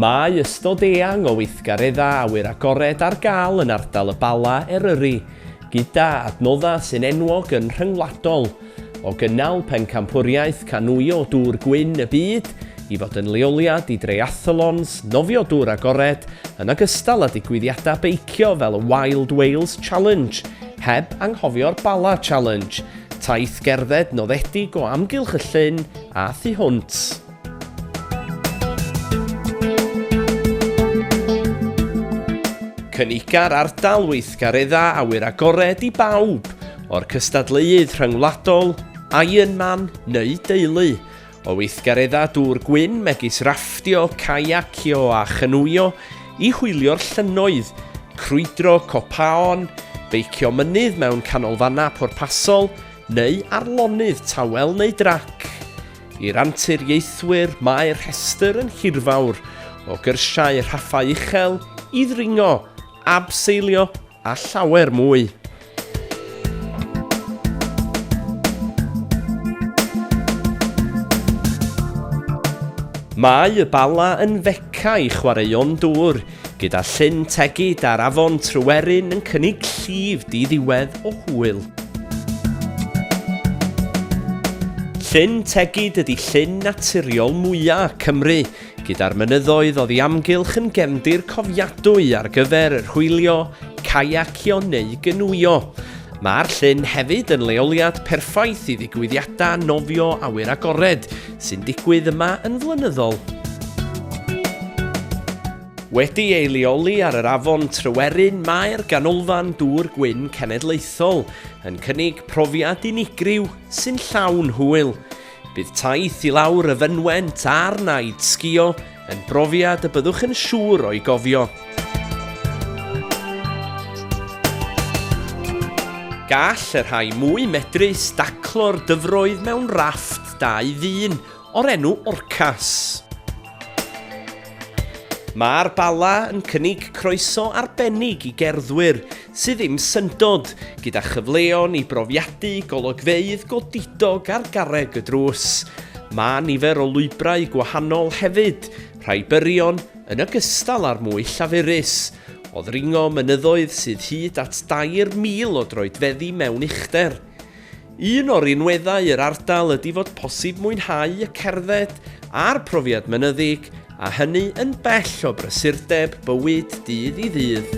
Mae ystod eang o weithgareddau awyr agored ar gael yn ardal y Bala, Eryri, gyda adnoddau sy'n enwog yn rhyngwladol, o gynnal pencampwriaeth canŵio dŵr gwyn y byd i fod yn leoliad i dreiathalons, nofio dŵr agored, yn ogystal â digwyddiadau beicio fel y Wild Wales Challenge, heb anghofio'r Bala Challenge, Taith gerdded noddedig o amgylch y llyn a thu hwnt. Cyniga'r ardal weithgaredda awyr agored i bawb, o'r cystadleuudd rhyngwladol, Ironman neu deulu, O weithgareddau dŵr gwyn megis rafftio, caiacio a chynwyo, i hwylio'r llynnoedd, crwydro copaon, beicio mynydd mewn canolfannau pwrpasol, neu ar lonydd tawel neu drac. I'r anturiaethwyr mae'r rhestr yn hirfawr, o gyrsiau rhaffau uchel, i ddringo, abseilio a llawer mwy. Mae y Bala yn feca i chwaraeon dŵr, gyda Llyn Tegid a'r afon Tryweryn yn cynnig llif di-ddiwedd o hwyl. Llyn Tegid ydy llyn naturiol mwyaf Cymru, gyda'r mynyddoedd oddi amgylch yn gefndir cofiadwy ar gyfer yr hwylio, caiacio neu gynwio. Mae'r llyn hefyd yn leoliad perffaith i ddigwyddiadau nofio awyr agored sy'n digwydd yma yn flynyddol. Wedi ei leoli ar yr afon Tryweryn mae'r Ganolfan Dŵr Gwyn Cenedlaethol yn cynnig profiad unigryw sy'n llawn hwyl. Bydd taith i lawr y fynwent a'r naid sgio yn brofiad y byddwch yn siŵr o'i gofio. Gall y rhai mwy medrus daclo'r dyfroedd mewn rafft dau ddyn o'r enw Orcas. Mae'r Bala yn cynnig croeso arbennig i gerddwyr sydd ddim syndod, gyda chyfleon i brofiadu golygfeydd godidog ar garreg y drws. Mae nifer o lwybrau gwahanol hefyd, rhai byrion yn ogystal â'r mwy llafurus, o ddringo mynyddoedd sydd hyd at 2,000 o droedfeddi mewn uchder. Un o rinweddau yr ardal ydy fod posib mwynhau y cerdded a'r profiad mynyddig, a hynny yn bell o brysurdeb bywyd dydd i ddydd.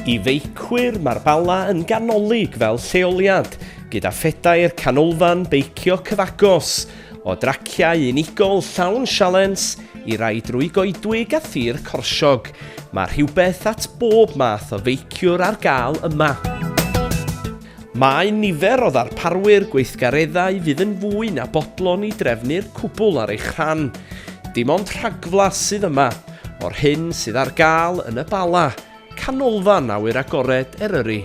I feicwyr, mae'r Bala yn ganolig fel lleoliad, gyda phedair canolfan beicio cyfagos, O draciau unigol llawn sialens i rai drwy goedwig a thir corsiog, mae rhywbeth at bob math o feiciwr ar gael yma. Mae nifer o ddarparwyr gweithgareddau fydd yn fwy na bodlon i drefnu'r cwbl ar eich rhan. Dim ond rhagflas sydd yma o'r hyn sydd ar gael yn y Bala, canolfan awyr agored Eryri.